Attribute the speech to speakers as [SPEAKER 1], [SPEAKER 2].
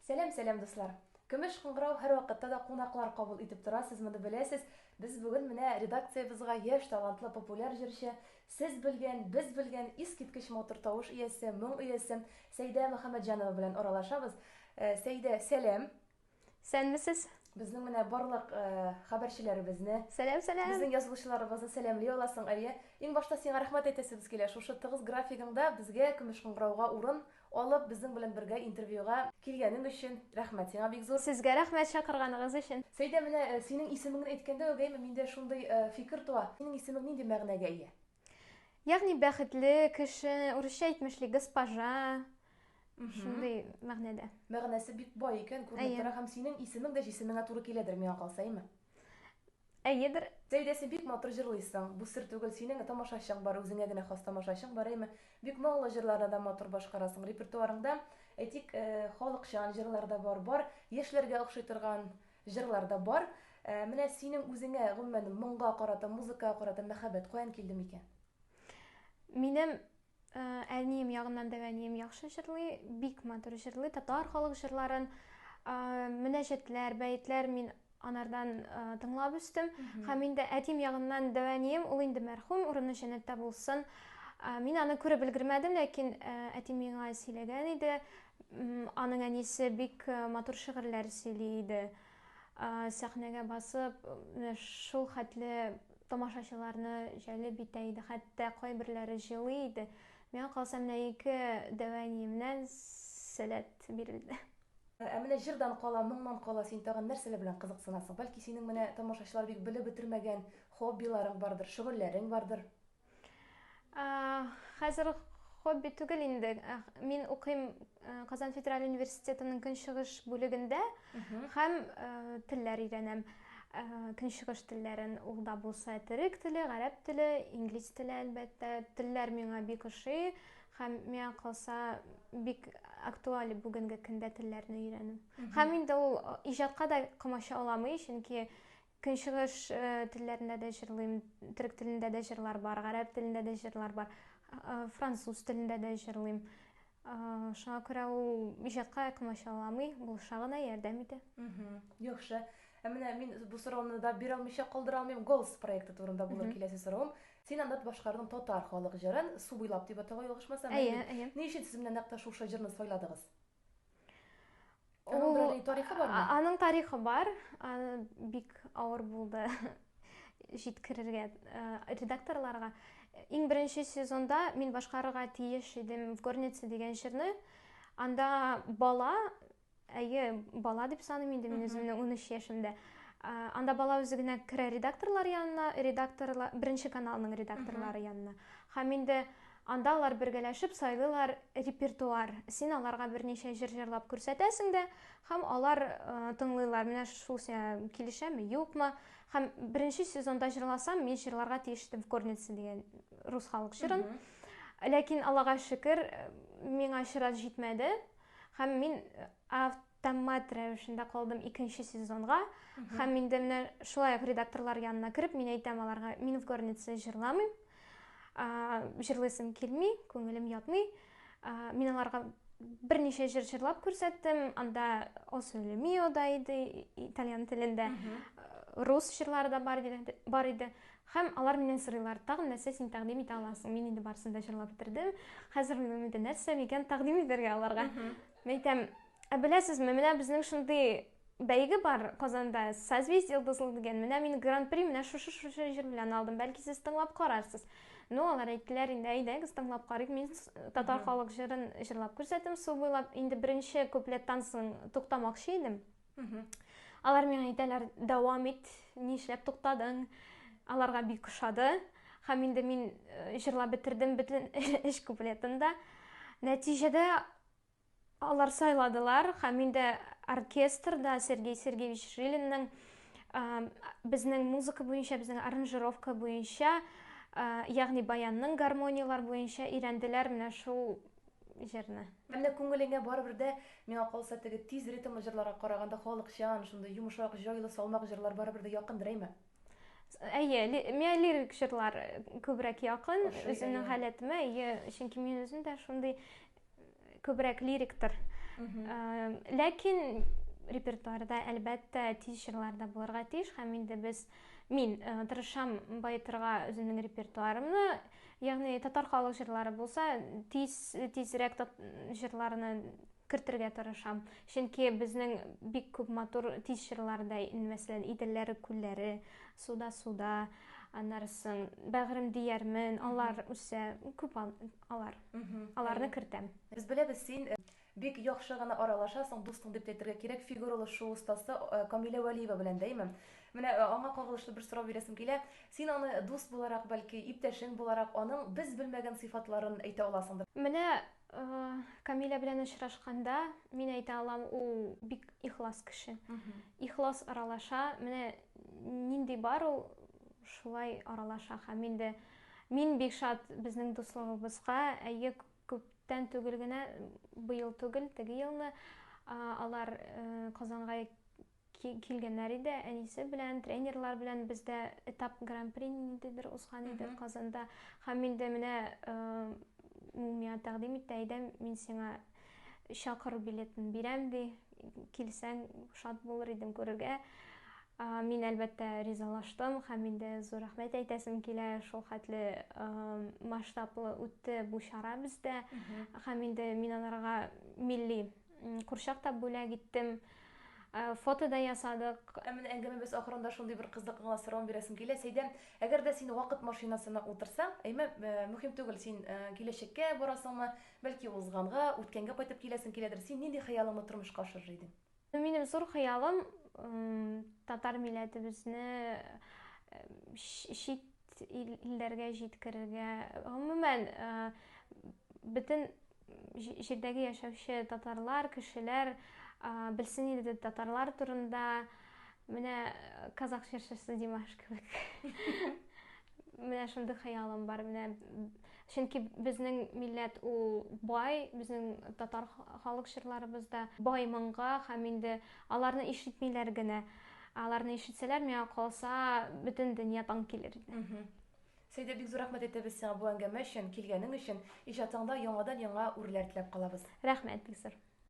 [SPEAKER 1] Сәлам сәлам дуслар! Көмеш кыңгырау һәрвакытта да кунаклар кабул итеп тора, сез моны беләсез. Без бүген менә редакциябезга яшь талантлы популяр җырчы, сез белгән, без белгән, искиткеч матур тавыш иясе, моң иясе Сәидә Мөхәммәтҗанова белән аралашабыз. Сәидә, сәлам! Сәнмесез!
[SPEAKER 2] Безнең менә
[SPEAKER 1] барлык хәбәрчеләребезне, Сәлам сәлам!
[SPEAKER 2] Безнең язылучыларыбызны
[SPEAKER 1] сәламли аласың, әйе? Иң башта сиңа рәхмәт әйтәсебез килә, шушы тыгыз графигыңда безгә Көмеш кыңгырауга урын Алып, безнең белән бергә интервьюга килгәнең өчен рәхмәт сиңа бик зур. Сезгә рәхмәт чакырганыгыз
[SPEAKER 2] өчен. Сәйдә, менә синең
[SPEAKER 1] исемеңне әйткәндә үк әй, миндә шундый фикер туа, синең исемең нинди мәгънәгә ия? Ягъни
[SPEAKER 2] бәхетле кеше, урысча әйтмешли, госпожа, шундый мәгънәдә. Мәгънәсе бик бай
[SPEAKER 1] икән, күренеп тора һәм синең исемең дә җисемеңә туры киләдер, миңа калса, әйме?
[SPEAKER 2] Әйедер. Зәйдәсе бик
[SPEAKER 1] матур җырлыйсың, бу сер түгел синең тамашачың бар үзеңә генә хас тамашачың бар әйме, бик моңлы җырларны да матур башкарасың, репертуарыңда әйтик халыкчан җырлар да бар, бар яшьләргә охшый торган җырлар да бар, менә синең үзеңә гомумән моңга карата, музыкага карата мәхәббәт каян килде микән?
[SPEAKER 2] Минем Э, әнием ягыннан да әнием яхшы җырлый бик матур җырлый татар халык җырларын э, мөнәҗәтләр бәетләр мин анардан э, тыңлап үстем һәм инде әтием ягыннан да әнием ул инде мәрхүм урыны җәннәттә булсын мин аны күреп өлгермәдем ләкин әти миңа сөйләгән иде аның әнисе бик матур шигырьләр сөйли иде сәхнәгә басып шул хәтле Тамашачыларны җәлеп итә иде, хәтта кайберләре җылый иде. Миңа калса, менә ике дәваниемнән сәләт бирелде. Ә менә
[SPEAKER 1] җырдан кала, моңнан кала син тагын нәрсәләр белән кызыксынасың? Бәлки синең менә тамашачылар бик белеп бетермәгән хоббиларың бардыр, шөгыльләрең бардыр?
[SPEAKER 2] Хәзер хобби түгел инде. Э, мин укыйм э, Казан федераль университетының көнчыгыш бүлегендә һәм э, телләр өйрәнәм. Көнчыгыш телләрен ул да булса төрек теле, гарәп теле, инглиз теле әлбәттә. Телләр миңа бик ошый һәм миңа калса бик актуаль бүгенге көндә телләрне өйрәнү. Һәм инде ул иҗатка да комача аламый, чөнки Көнчыгыш телләрендә дә җырлыйм, төрек телендә дә җырлар бар, гарәп телендә дә җырлар бар, француз телендә дә җырлыйм. Шуңа күрә ул иҗатка комачауламый, булыша гына ярдәм итә. Яхшы.
[SPEAKER 1] Ә менә мин бу сорауны да бирә алмыйча калдыра алмыйм. Голос проекты турында булыр киләсе соравым. Син анда башкардың татар халык җырын, Су буйлап дип атала, ялгышмасам. Әйе, әйе. Ни өчен сез
[SPEAKER 2] менә нәкъ тә
[SPEAKER 1] шушы җырны сайладыгыз? Ул тарихы бар мы? Аның тарихы бар.
[SPEAKER 2] Аны бик авыр булды җиткерергә редакторларга. Иң беренче сезонда мин башкарырга тиеш идем в горнице дигән җырны. Анда бала, әйе, бала дип саныйм инде мин үземне 13 яшемдә. Анда бала үзе генә керә редакторлар янына, редакторлар, беренче каналның редакторлары янына. Һәм инде Анда алар бергәләшеп сайлыйлар репертуар. Син аларга берничә җыр җырлап күрсәтәсең дә, һәм алар тыңлыйлар, менә шул сиңа килешәме, юкмы. Һәм беренче сезонда җырласам, мин җырларга тиеш идем Корницы дигән рус халык җырын. Ләкин Аллага шөкер, миңа чират җитмәде. Һәм мин тәммәт рәвешендә калдым икенче сезонга һәм инде менә шулай ук редакторлар янына кереп мин әйтәм аларга мин в горнице җырламыйм җырлыйсым килми күңелем ятмый мин аларга берничә җыр җырлап күрсәттем анда осо лемио да иде итальян телендә рус җырлары да бар иде бар иде һәм алар миннән сорыйлар тагын нәрсә син тәкъдим итә аласың мин инде барысын да җырлап бетердем хәзер минем инде нәрсә микән тәкъдим итәргә аларга Мин әйтәм, ә беләсезме, менә безнең шундый бәйге бар Казанда, Созвездие йолдызлы дигән. Менә мин гран-при менә шушы шушы җыр белән алдым. Бәлки сез тыңлап карарсыз. Ну, алар әйттеләр инде, әйдәгез тыңлап карыйк. Мин татар халык җырын җырлап күрсәттем. Су буйлап инде беренче куплеттан соң туктамакчы идем. Алар миңа әйтәләр, дәвам ит, нишләп туктадың? Аларга бик ошады. Һәм инде мин э, җырлап бетердем бөтен эш куплетын да. Нәтиҗәдә алар сайладылар һәм инде оркестрда Сергей Сергеевич Жилинның э, безнең музыка буенча, безнең аранжировка буенча, э, ягъни баянның гармонияләр буенча өйрәнделәр. Менә шул җырны. Әллә күңелеңә
[SPEAKER 1] барыбер дә, миңа калса, теге тиз ритмлы җырларга караганда халыкчан, шундый йомшак, җайлы, салмак җырлар барыбер дә якындыр, әйме? Әйе,
[SPEAKER 2] миңа лирик җырлар күбрәк якын, үземнең халәтемә, әйе, чөнки мин үзем дә шундый күбрәк лириктыр. Ләкин репертуарда, әлбәттә, тиз җырлар да булырга тиеш, һәм инде без, мин тырышам баетырга үземнең репертуарымны, Ягъни татар халык җырлары булса, тиз тизрәк җырларны кертергә тырышам. Чөнки безнең бик күп матур тиз җырлар да, мәсәлән, Иделләре күлләре, Суда суда, аннарысын Бәгърем диярмен, алар үсә, күп алар. Аларны кертәм. Без беләбез, син
[SPEAKER 1] Бик яхшы гына аралашасың, дустың дип тә әйтергә кирәк, фигуралы шуу остасы Камилә Вәлиева белән дә, әйме? Менә аңа кагылышлы бер сорау бирәсем килә. Син аны дус буларак, бәлки, иптәшең буларак, аның без белмәгән сыйфатларын әйтә аласыңдыр? Менә
[SPEAKER 2] Камилә белән очрашканда, мин әйтә алам, ул бик ихлас кеше. Ихлас аралаша. Менә нинди бар, ул шулай аралаша. Һәм инде мин бик шат безнең дуслыгыбызга. Әйе, Күптән түгел генә, быел түгел, теге елны алар Казанга килгәннәр иде, әнисе белән, тренерлар белән бездә этап гран-при ниндидер узган иде Казанда. Һәм инде менә ул миңа тәкъдим итте, әйдә, мин сиңа чакыру билетын бирәм, ди, килсәң, шат булыр идем күрергә. Мин, әлбәттә, ризалаштым һәм инде зур рәхмәт әйтәсем килә, шул хәтле масштаблы үтте бу чара бездә. Һәм инде мин аларга милли курчак та бүләк иттем. Э, фото да ясадык. Ә менә әңгәмәбез
[SPEAKER 1] ахырында шундый бер кызыклы гына сорау бирәсем килә. Сәйдә, әгәр дә син вакыт машинасына утырсаң, әйме, э, мөһим түгел, син э, киләчәккә барасыңмы, бәлки узганга, үткәнгә кайтып киләсең киләдер. Син нинди хыялыңны тормышка ашырыр идең? Минем зур
[SPEAKER 2] хыялым татар милләтебезне чит илләргә җиткерергә, гомумән, бөтен җирдәге яшәүче татарлар, кешеләр белсен иде татарлар турында. Менә казах җырчысы Димаш кебек. Менә шундый хыялым бар. Менә чөнки безнең милләт ул бай, безнең татар халык җырларыбыз да бай моңга һәм инде аларны ишетмиләр генә. Аларны ишетсәләр, миңа калса, бөтен дөнья таң килер иде. Сәйдә, бик
[SPEAKER 1] зур рәхмәт әйтәбез сиңа бу әңгәмә өчен, килгәнең өчен. Иҗатыңда яңадан-яңа үрләр теләп калабыз.
[SPEAKER 2] Рәхмәт
[SPEAKER 1] бик зур.